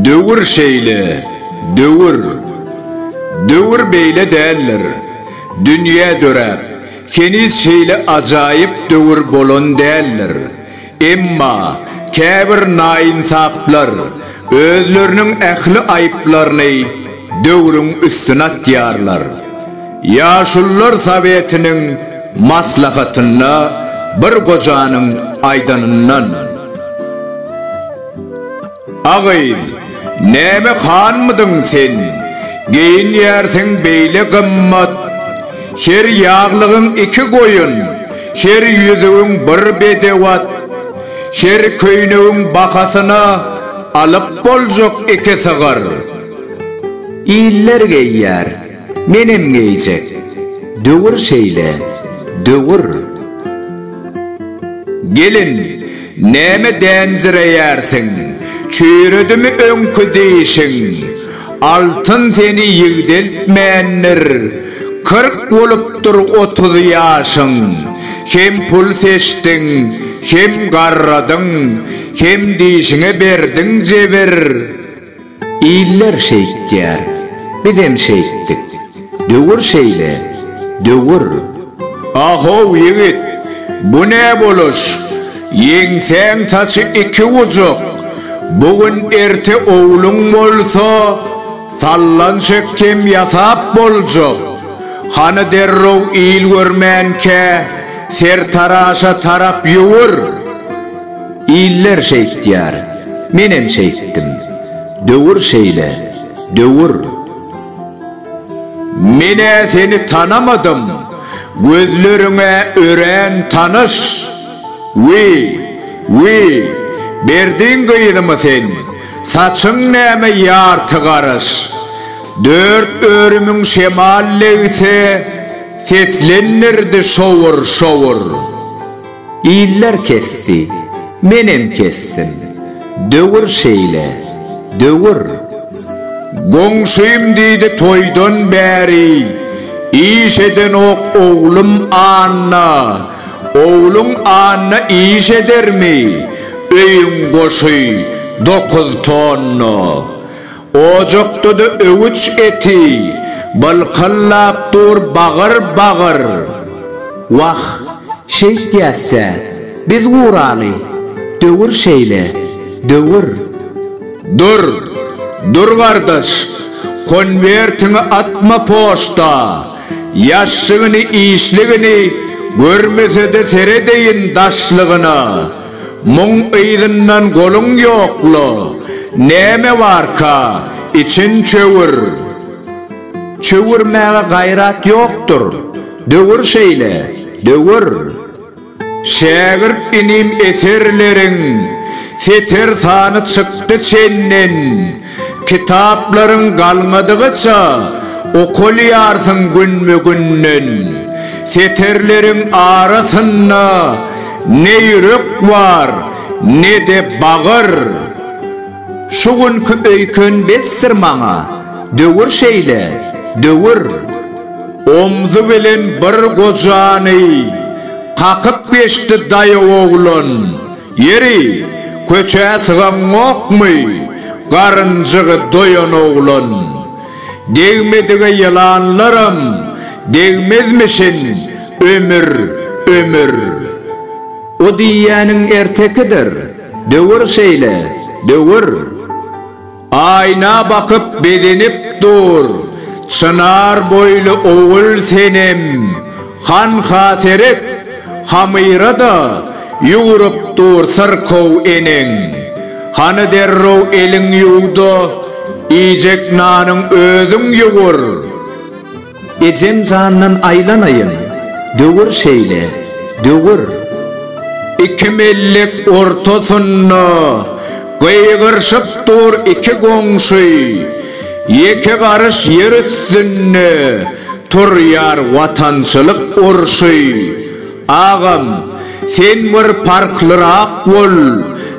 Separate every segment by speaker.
Speaker 1: Döwür şeýle, döwür. Döwür beýle däldir. Dünýä döräp, heniz şeýle ajaýyp döwür bolan däldir. Emma käbir naýynsaplar özleriniň ähli aýyplaryny döwrüň üstüne atýarlar. Ýaşulular sowetiniň maslahatynda bir gojanyň aýdanyndan. A gyz, näme hanmydyň sen? Geýinýärsiň beýle gymmat. Her ýaglygyň iki goýun, her ýüzügiň bir bedew at. Her köýnegiň bahasyna alyp boljak iki sygyr. Iller geýýär. Menem geýjek. Döwür şeýle, döwür. Gelin, näme dänjireýärsiň? Çüýredimi öňki dişiň? Altyn seni ýigdeltmändir. Kyrk bolupdyr otuz ýaşyň. Hem pul seçdiň, hem garradyň, hem dişiňe berdiň jebir. Iller şeýtýär, bizem şeýtdik. Döwür şeýle, döwür. A-how, ýigit, bu ne boluş? Ýeňsäň saçy iki gujuk. Bu gün erte ogluň bolsa, sallan şekgem ýasap boljak. Hany derrew il görmänkä, sertaraşa tarap ýüwür. Iller şeýtýär, menem şeýtdim. Döwür şeýle, döwür. Men-ä seni tanamadym, gözleriň-ä örän tanyş. Wi, wi, berdiň gyzymy sen, saçyň näme ýarty garyş. Dört örümiň şemal legsi seslendirdi şowur-şowur. Iller kesdi, menem kesdim. Döwür şeýle, döwür. Goňşym diýdi toýdan bäri iş edenok oglum Anna. Ogluň Anna iş edermi? Öýüň goşy dokuz tonna. Ojakda-da öwüç eti bylkylap dur bagyr-bagyr. Wah, şeýtýäs-dä, biz guraly, döwür şeýle, döwür. Dur, dur gardaş, konwertiňi atma poçta, ýaşşygyny-işligini görmese-de seredeýin daşlygyna. Muň yzyndan goluň ýokla, näme barka, için çöwür. Çöwürmäge gaýrat ýokdur, döwür şeýle, döwür. Şägirt inim eserleriň seter sany çykdy çenden. Kitaplaryň galmadygyça okalýarsyň günbe-günden. Setirleriň arasynda ne ýürek bar, ne-de bagyr. Şu günki öýken besdir maňa, döwür şeýle, döwür. Omzy bilen bir gojany kakyp geçdi daýaw oglan. Ýeri, köçä sygaňokmy? Garynjygy doýan oglan. Degmedige ýylanlaram degmezmişin, ömür, ömür. O diýýäniň ertekidir, döwür şeýle, döwür. Aýna bakyp begenip dur. Çynar boýly ogul senem. Hanha seret, hamyra-da ýugrup dur syrkaw eneň. Hany derrew eliň ýuw-da, iýjek nanyň özüň ýugur. Ejem jandan aýlanaýyn, döwür şeýle, döwür. Iki mellik ortasynda gygyryşyp dur iki goňşy, ýeke garyş ýer üstünde turýar watançylyk urşy. Agam, sen bir parhlyrak bol,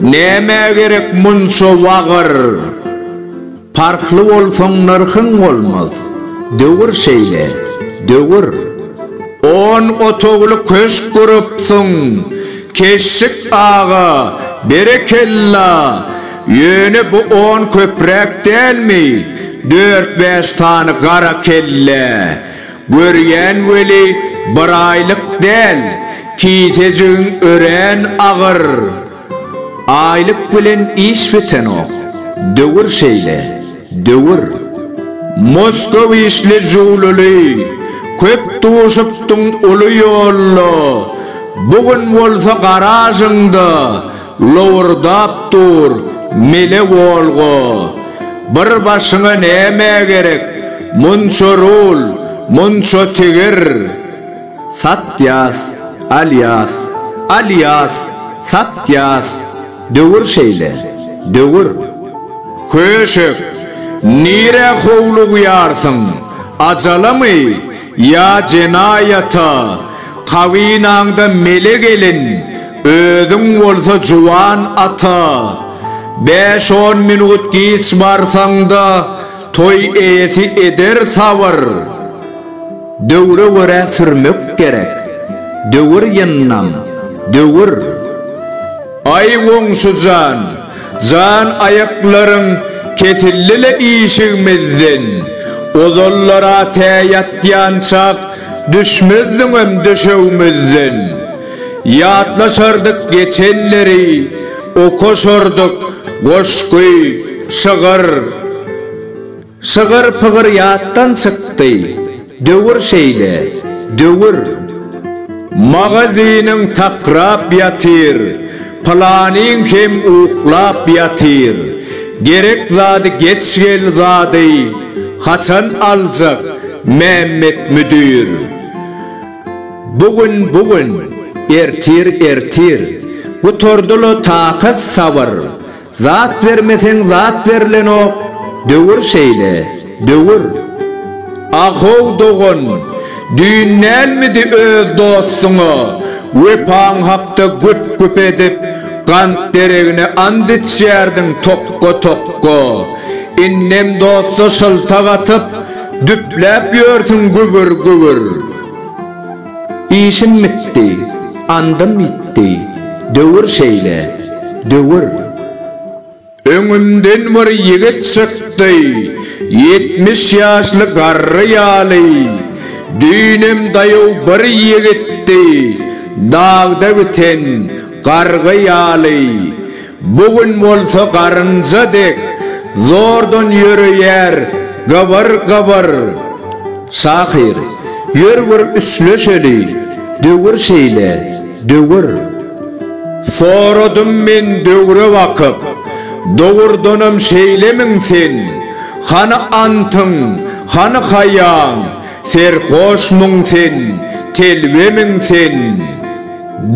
Speaker 1: nämä gerek munça wagyr? Parhly bolsaň nyrhyň bolmaz. Döwür şeýle, döwür. On otagly köşk gurupsyň, Keşşik aga, berekella! Ýöne bu on köpräk dälmi, dört-bäş sany gara kellä? Görýän weli, biraýlyk däl, kisejigiň örän agyr. Aýlyk bilen iş bitenok. Döwür şeýle. Döwür. Moskw işli jüwlüli, köp duşupdyň uly ýolda, bu gün bolsa garažyňda lowurdap dur mele Wolga. Bir başyňa näme gerek, munça rul, munça tigir. Satýas, alýas, alýas, satýas, döwür şeýle, döwür. Köşek, nirä howlugýarsyň, ajalamy ýa jenaýata, kabynaňda mele gelin, özüň bolsa juwan ata. Bäş-on minut giç barsaň-da, toý eýesi eder sabyr. Döwre görä sürmek gerek. Döwür ýyndam, döwür. Aý goňşujan, jan aýaklaryň kesildi-le işigimizden. Ozallar-a tä ýatýançak düşmezdiňem döşegimizden. Ýatlaşardyk geçenleri, okaşardyk goşgy, şygyr. Şygyr-pygyr ýatdan çykdy. Döwür şeýle, döwür. Magazynyň takrap ýatyr, Pylanyň hem uklap ýatyr. Gerek zady geç gel zady, Haçan aljak Mämmet müdir? Bu gün, bu gün, ertir, ertir. Gutardy-la takat-sabyr, Zat bermeseň zat berlenok döwür şeýle döwür. Ahow dogan düýn nälmidi öz dostuňa wepaň hakda güp güp edip gant deregine ant içýärdiň tokga tokga indem dosta şyltak atyp düpläp ýörsüň gübür gübür. Işim bitdi, andym ýitdi, döwür şeýle, döwür. Öňümden bir ýigit çykdy, ýetmiş ýaşly garry ýaly. Düýnem daýaw bir ýigitdi, dagda biten gargy ýaly. Bu gün bolsa garynja dek zordan ýöreýär gybyr gybyr. Şahyr, ýör bir üsleşeli, döwür şeýle, döwür. Soradym men döwre bakyp, dogurdanam şeýlemiň sen? Hany antyň, hany haýaň, serhoşmyň sen, telbemiň sen?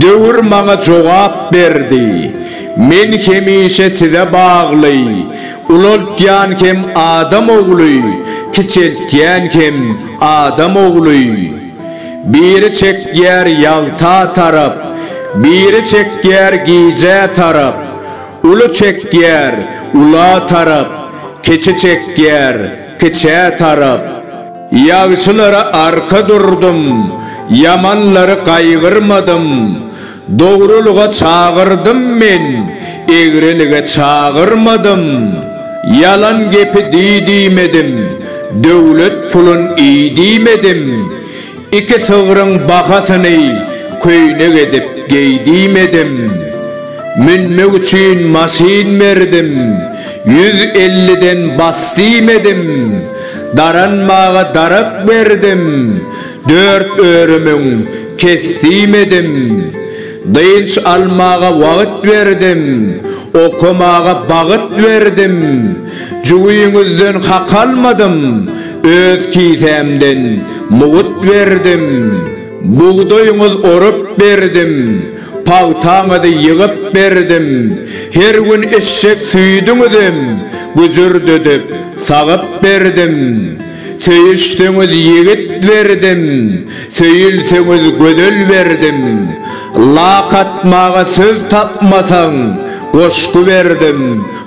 Speaker 1: Döwür maňa jogap berdi. Men hemişe size bagly. Ulaltýan hem adam ogly, kiçeltýän hem adam ogly. Biri çekýär ýagta tarap, biri çekýär gijä tarap. Uly çekýär ula tarap, kiçi çekýär kiçä tarap. Ýagşylara arka durdum, ýamanlary gaýgyrmadym. Dogrulyga çagyrdym men, egrilige çagyrmadym. Ýalan gepi di diýmedim, döwlet pulun iý diýmedim. Iki sygryň bahasyny köýnek edip geý diýmedim. Münmek üçin maşyn berdim, ýüz elliden bas diýmedim. Daranmaga darak berdim, dört örümüň kesdim edim. Dynç almaga wagyt berdim, okamaga bagyt berdim. Jübiňizden hak almadym, öz kisämden mugut berdim. Bugdaýyňyz orup berdim, pagtaňyzy ýygyp berdim, her gün eşek süýdüňizem güjürdedip, sagyp berdim. Söýüşseňiz ýigit berdim, söýülseňiz gözel berdim. Lak atmaga söz tapmasaň, goşgy berdim.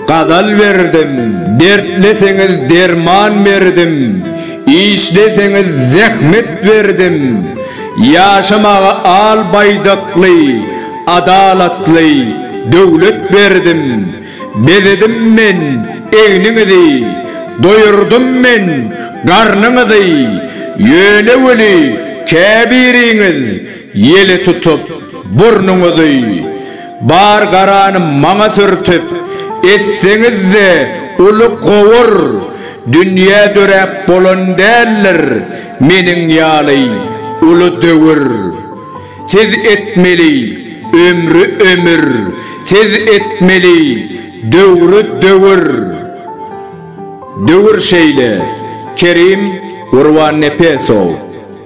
Speaker 1: Gazal berdim, dertleseňiz derman berdim, işleseňiz zähmet berdim, ýaşamaga al baýdakly, adalatly döwlet berdim, bezedim men egniňizi, doýurdym men garnyňyzy, ýöne weli käbiriňiz ýele tutup burnuňyzy. Bar garany maňa sürtüp, etseňiz-de uly gowur, dünýä döräp bolan däldir meniň ýaly uly döwür. Siz etmeli ömri ömür, siz etmeli döwri döwür. Döwür şeýle, Kerim Gurbannepesow.